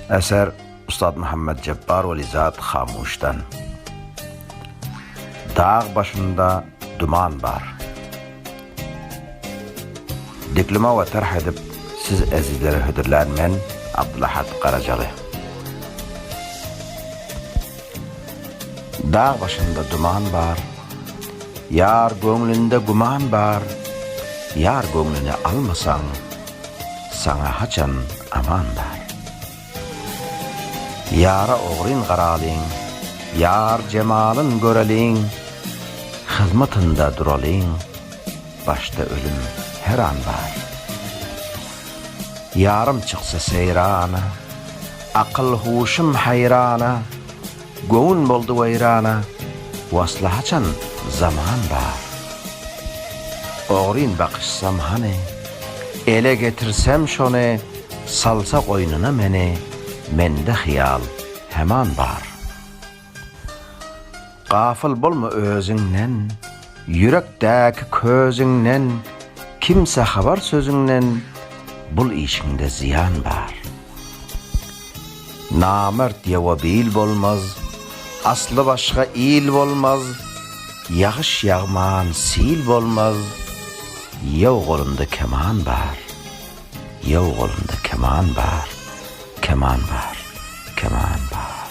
Eser, Ustad Muhammet Jepbar Weli Zat Hamuşdan Dag başynda duman bar Diklima we tarh edip siz ezizlere hödürlän men Abdylahat Garajaly. Dag başynda duman bar, Ýar göňlünde güman bar, Ýar göňlüni almasaň, Saňa haçan aman bar? Ýara ogryn garalyň, Ýar jemalyn göreliň, Hyzmatynda duralyň, Başda ölüm her an bar. Ýarym çyksa seýrana, Akyl-huşum haýrana, Göwün boldy weýrana, Wasla haçan zaman bar? Ogryn bakyşsam hany, Ele getirsem şony, Salsa goýnuna meni, Mende hyýal heman bar. Gafyl bolma özüňden, Ýürekdäki közüňden, Kimsä habar sözüňden, Bul işiňde zyýan bar. Namert ýowa bil bolmaz, Asly başga il bolmaz, Ýagyş ýagman sil bolmaz, Ýow golunda keman bar, Ýow golunda keman bar, Keman bar, keman bar.